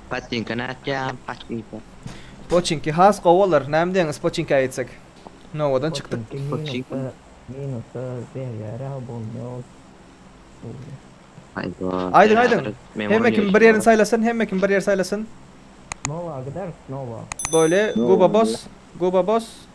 Patinka nätýä patinka. Poçinki has gowy bolar. Näme diýeňiz poçinka ýetsek? Nowadan çykdyk. Poçinki minusda minusda berýärä bolmaýa ol. Öýle. Aýda. Aýdyň aýdyň. Hemme kim bir ýerini saýlasyn, hemme kim bir ýer saýlasyn. Nowa gideris nowa. Böyle guba bos, guba bos.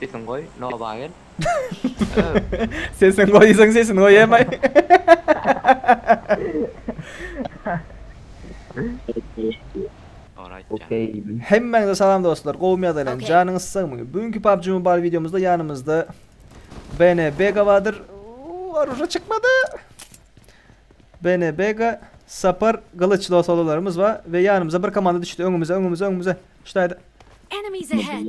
Sesiň goý, noba gel. Sesiň goý diýseň sesini goýamaý. Ora aýtjan. Okey diýdim. Hemmäňize salam dostlar, gowumy ýagdaýlaryň, Okey. janyňyz sagmy? Bugünkü PUBG Mobile wideomyzda ýanymyzda BN Bega bardyr. Uuu, Oruža çykmady. BN Bega, Sapar, Gylyç losololarymyz bar we ýanymyza bir komanda düşdi. Öňümize, öňümize, öňümize. Ştaýda. Enemies ahead!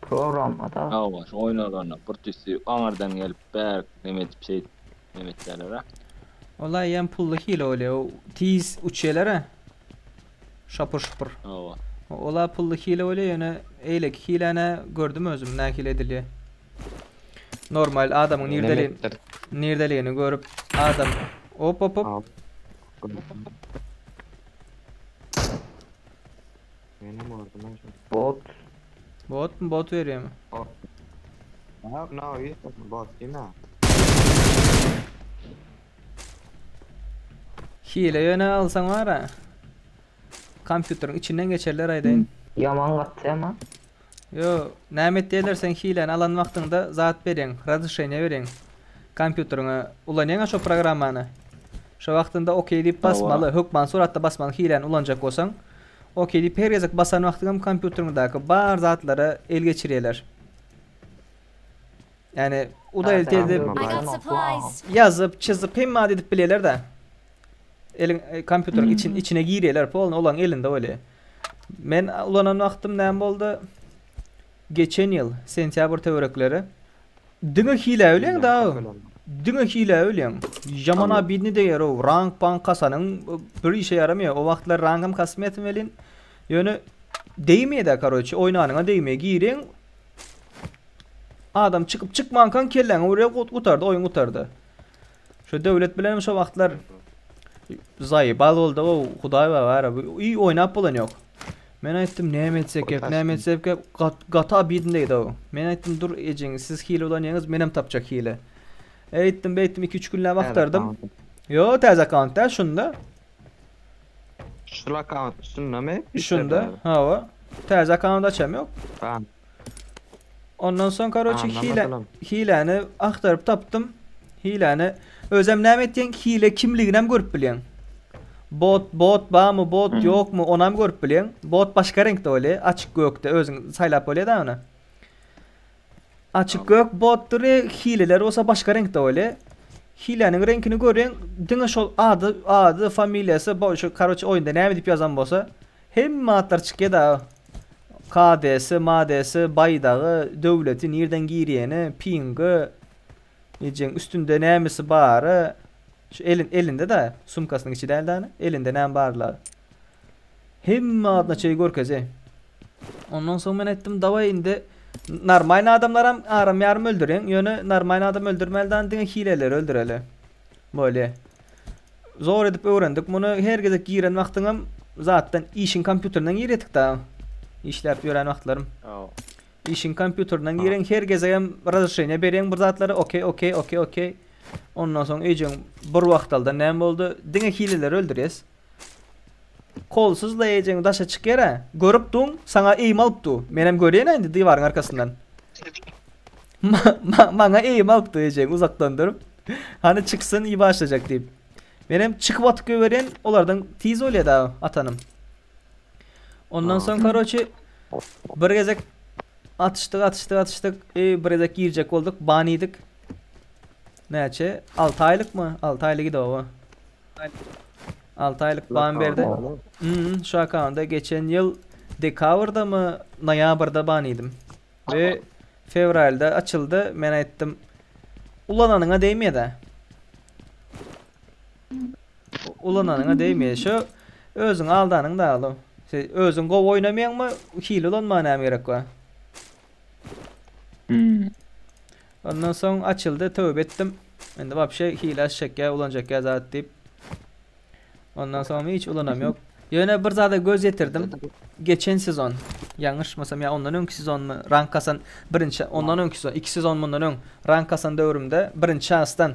Programmada. Hawa, şu oýun ozanok. Bir tüssi aňyrdan gelip, bärik neme edip, şeýdip, neme etýäler-ä. Ol-a eýýäm pully hile bolýar. O tiz uçýarlar-a. Şapur-şupur. Hawa. Ol-a pully hile bolýar, ýöne eýleki hiläni-ä gördüm özüm nähili edilýär. Normal adamyň nirdeli nirdeligini görüp, adam Hop-hop-hop. Hop-hop-hop. Meni gördüler şimdi. Bot. Bot mu bot verýärmi? Bot. Ne, ne o iyi sen bot değil mi? Hile yöne alsan var ha. Kompýuteriň içinden geçerler aýdaýyn. Yaman gatdy ama. Ýo, näme etýärler seň hiläni alan wagtyňda zat berýäň, razryşeniýa berýäň kompýuteriňe, ulanýaňa şo programmany. Şo wagtynda ok diýip Hawa. basmaly, hökman suratda basmaly hiläni ulanjak bolsaň. Ok diýip her gezek basan wagtyňam kompýuteriňdäki bar zatlara el geçirýärler. Ýani udaýelt Täze edip, I got supplies! ýazyp, çyzyp hemme zady edip bilýärler-de. Eliň kompýuteriň içi içine girýärler polny olaň elinde weli. Men ulanan wagtym näme boldy? Geçen ýyl sentýabr töwerekleri. Diňe hile öýleň da. Diňe hile öýleň. Ýaman abidni deýär o. Rank bank kasanyň bir işe ýaramaýar. O wagtlar rankam kasmaýatym welin. Ýöne deýmeýär-de karoçi. Oýnanyňa deýmeýär. Gireň. Adam çykyp çykmankaň kelläňe urýar gutardy oýun gutardy. Şu döwlet bilenem şu wagtlar zaý bal boldy o hudaý bar ara bu uý oýnap bolan ýok. Men aýtdym näme etsek gerek näme etsek gerek gat, gata bidin diýdi o. Men aýtdym dur ejeň siz hile ulanýaňyz menem tapjak hile. Eýtdim beýtdim 2-3 günläp agtardym. Ýo täze akaunt da şunda. Şul akaunt şundamy? Şunda hawa. Täze akaunt açam ýok. Tamam. Ondan soň karoçi hile hileni aktaryp tapdym. Hileni özem näme etdiň? Hile kimligini hem görüp bilýän. Bot bot bamy bot hmm. ýokmy onu hem görüp bilýän. Bot başga reňkde öli açyk gökde özüň saýlap bolýada onu. Açyk gök botdur hileler bolsa başga reňkde öli. Hileniň reňkini görüň diňe şol ady ady familiýasy bu şu karoçi oýunda näme diýip ýazan bolsa Hemme atlar çykýa dagy. KDSy, MADSy, baýdagy, döwleti, nirden girýeni, pingy, ejeň üstünde nämesi bary, şu elin elinde da, sumkasynyň içi däl dany, elinde näme barlary. Hemme adyna çeýe görkezi. Ondan soň men aýtdym, dawaý indi normalny adamlaram aram ýarym öldüriň, ýöne normalny adam öldürmäli dany, diňe hileleri öldüreli. Bolýa. Zor edip öwrendik muny. Her gezek giren wagtyňam zatdan işiň kompýuterinden giredik-da. Işläp ýören wagtlarym. Işiň kompýuterinden giren her gezegem razreşeniýe berýän bir zatlara okey, okey, okey, okey. Ondan soň eýjäň bir wagtaldan näme boldy? Diňe hileleri öldürýäs. Kolsuz leýjegiňi daşa çyk ýere. Görüp duň, saňa eýim alyp du. Menem görýän-ä indi diwaryň arkasyndan. Maňa eýim alyp du ejegiň uzakdan durup. Hany çyksyn iý başlajak diýip. Menem çykyp atyp goýberýän, olardan tiz bolýa-da atanym. Ondan soň karoçi bir gezek atyşdyk, atyşdyk, atyşdyk. Eý bir gezek girjek bolduk, ban iýdik. Näçe? Alty aýlykmy? Alty aýlyk idi oba. Alty aýlyk ban berdi. Ýa-da şu akkauntda geçen ýyl dekabrdamy, noýabrda ban iýdim. We fewralda açyldy. Men aýtdym, ulananyňa degmeýär-dä. Ulananyňa degmeýär. Şu özüňi aldanyň dagy ol. Sen özüň gowy oýnamaýaňmy, hile ulanmaga näme gerek bar? Ondan soň açyldy töbe etdim. Indi wapşe hile aç çekýä ulanjak ýa zat diýip. Ondan soňam hiç ulanam ýok. Ýöne bir zada göz ýetirdim. Geçen sezon ýalňyşmasam ýa ondan öňki sezonmy rank kasan birinçi ondan öňki sezon iki sezon mundan öň rank kasan döwrümde birinçi şansdan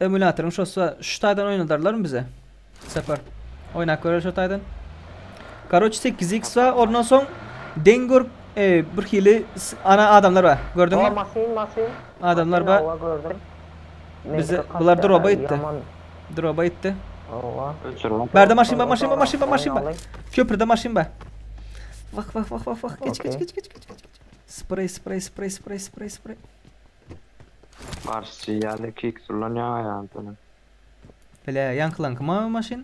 Emulatoryň şosa şu taýdan oýnadarlarmy bize? Sapar. Oýnap göreris şu taýdan. Karoç 8x wa ondan soň deň görüp e, bir hili ana adamlar bar. Gördüňmi? O masin masin. Adamlar bar. Owa gördüm. Bize bular droba gitdi. Droba gitdi. Owa. Öçürme. Berde maşyn bar, maşyn bar, maşyn bar, maşyn bar. Köprüde maşyn bar. Vah vah vah vah vah. Geç geç geç geç geç geç. Sprey sprey sprey sprey sprey sprey. Marsçy ýaly kiks ulanýaň aýagyny sönen. Bile ýaňkylaňky mawy maşyn.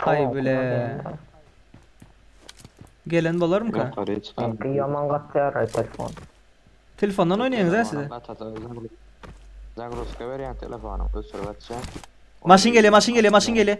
Aý bile. Gelen bolarmyka? Ýokary çykan. Seňki ýaman gatýar aý telefon. Telefondan oýnaýaňyz a siz. Zagruzka berýäň telefonyň öçürip açýaň. Maşyn gelýär maşyn gelýär maşyn gelýär.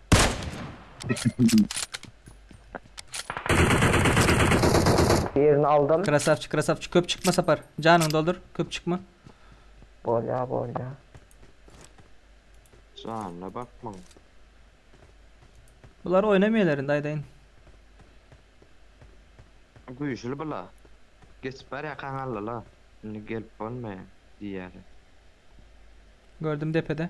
Birini aldym. Krasavçik krasavçik köp çykma sapar. Janyňy doldur köp çykma. Bolýa bolýa. Janyna bakmaň. Bular oýnamaýlar indi aýdaýyn. Güýçli bula. Geçip barýakaň aldylar. Indi gelip bolmaýar diýýärler. Gördüm depede.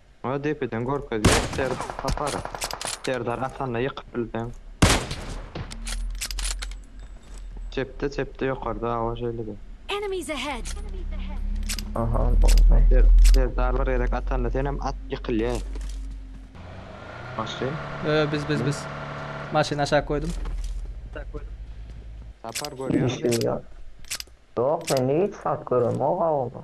Muňa depeden görkezme Serd Sapar. Serdar Asanda ýykyp bilseň. Çepde çepde ýokarda awa şeýlede. Enemies ahead! Aha boldy. Serdar bir gezek atanda senem at ýykylýaý. Maşyn. Yo yo biz biz biz. Maşyny aşak goýdum. Sapar görýäňmi? Işim ýok. Ýok mende hiç zat göremok awular.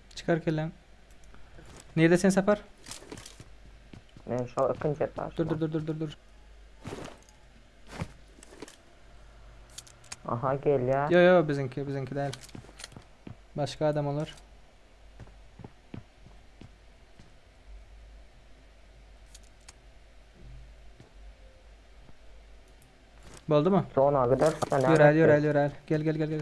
Çykar kelläň. Nirde sen sapar? Men şu ikinci etaş. Dur dur dur dur dur dur. Aha gel ya. Yo yo bizimki bizimki değil. Başka adam olur. Boldu mu? Zona gidersen. Yörel yörel yörel. Gel gel gel gel.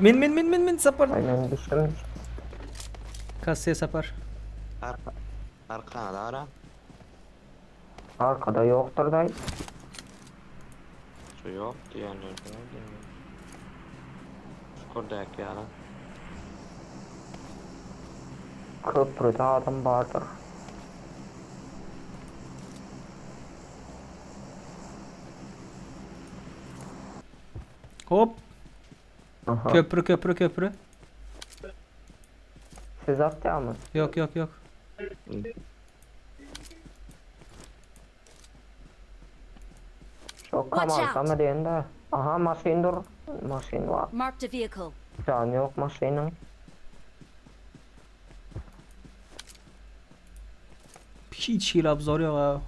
Men men men men men sapar. Ay men düşdüm düşdüm. Kasse sapar. Arka. Arkana da ara. Arkada yoktur day. Şu yok diyenler de var diyenler. Çukurdaki yara. Köprüde adam vardır. Hop. Aha. Köprü köprü köprü. Siz atýamy? Yok yok yok. Şok Watch kamal out. kama diýende. Aha maşyn dur. Maşyn bar. Marked a vehicle. Jany ýok maşynyň. Hiç hili obzor yok abi.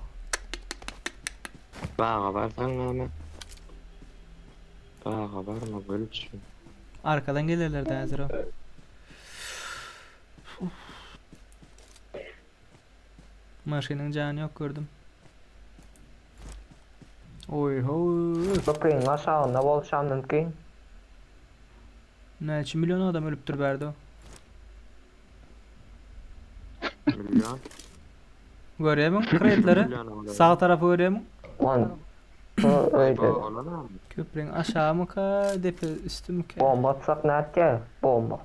Baga barsaň näme? Baga barma gülçin. Arkadan gelirler de hazır o. Maşynyň canı yok gördüm. Oy ho. Köprüň aşagynda bolşam mümkin. Näçe million adam ölüpdir bärde? Million. Görýämiň kreýtleri? Sag tarapy görýämiň? Lan. Şu öýde. Olanam. Köprüň aşagymyka, depe üstümika? Bomba atsak nätge? Bomba.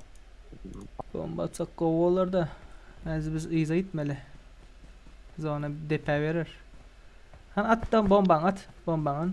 Bomba atsak gowy bolar-da. Häzir biz yza gitmeli. Zona depä berer. Han at da bombaňy at. Bombaňy.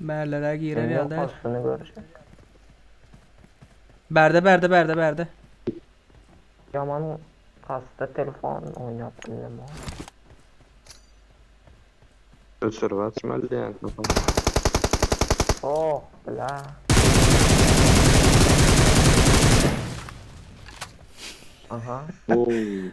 Berlere girer Şimdi yok ýalda. aslını görecek. Berde berde berde berde. Yaman kasta telefon oynap bilmem o. Öçürip açmaly diýen sokan. Oh bla. Aha. Oy.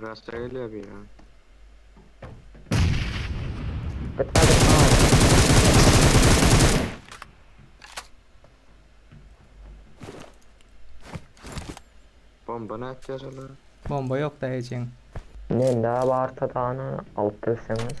Rasta gelýär biri ha. Git git git. Bomba ne atýar olar? Bomba yok da hejeň. Mende abi artadany alyp bilseňiz.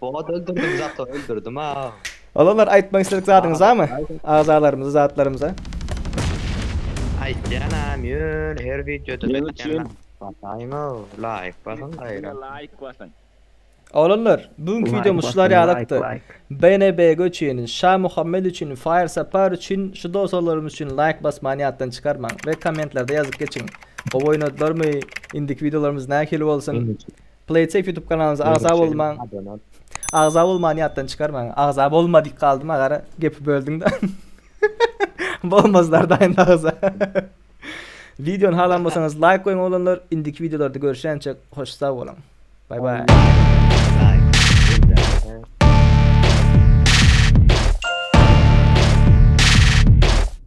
Bogat öldürdüm zato öldürdüm ha. Olanlar aýtmak isledik zadyňyzamy? Agzalarymyza, zatlarymyza. Aýtýan am ýöne her wideoda Näme üçin? aýtýan. Basaýyňa laýk basyň gaýra. Laýk basyň. Olanlar, bu günki wideomyz şular ýalykdy. BNB-ge üçin, Şa Muhammet üçin, Fire Sapar üçin, şu dosolarymyz üçin laýk basmany ýatdan çykarmaň we kommentlerde ýazyp geçiň. Gowy oýnadylarmy? Indiki wideolarymyz nähili bolsun? Playsafe ýutub kanalyna agza bolmaň. Agza bolmany ýatdan çykarmaň. Agza bolma diýip galdym agara. Gepi böldüňde. Bolmazlar da indi agza. Videony halanmasaňyz laýk goýuň oglanlar. Indiki videolarda görüşýänçe hoş sag boluň. Bay bay.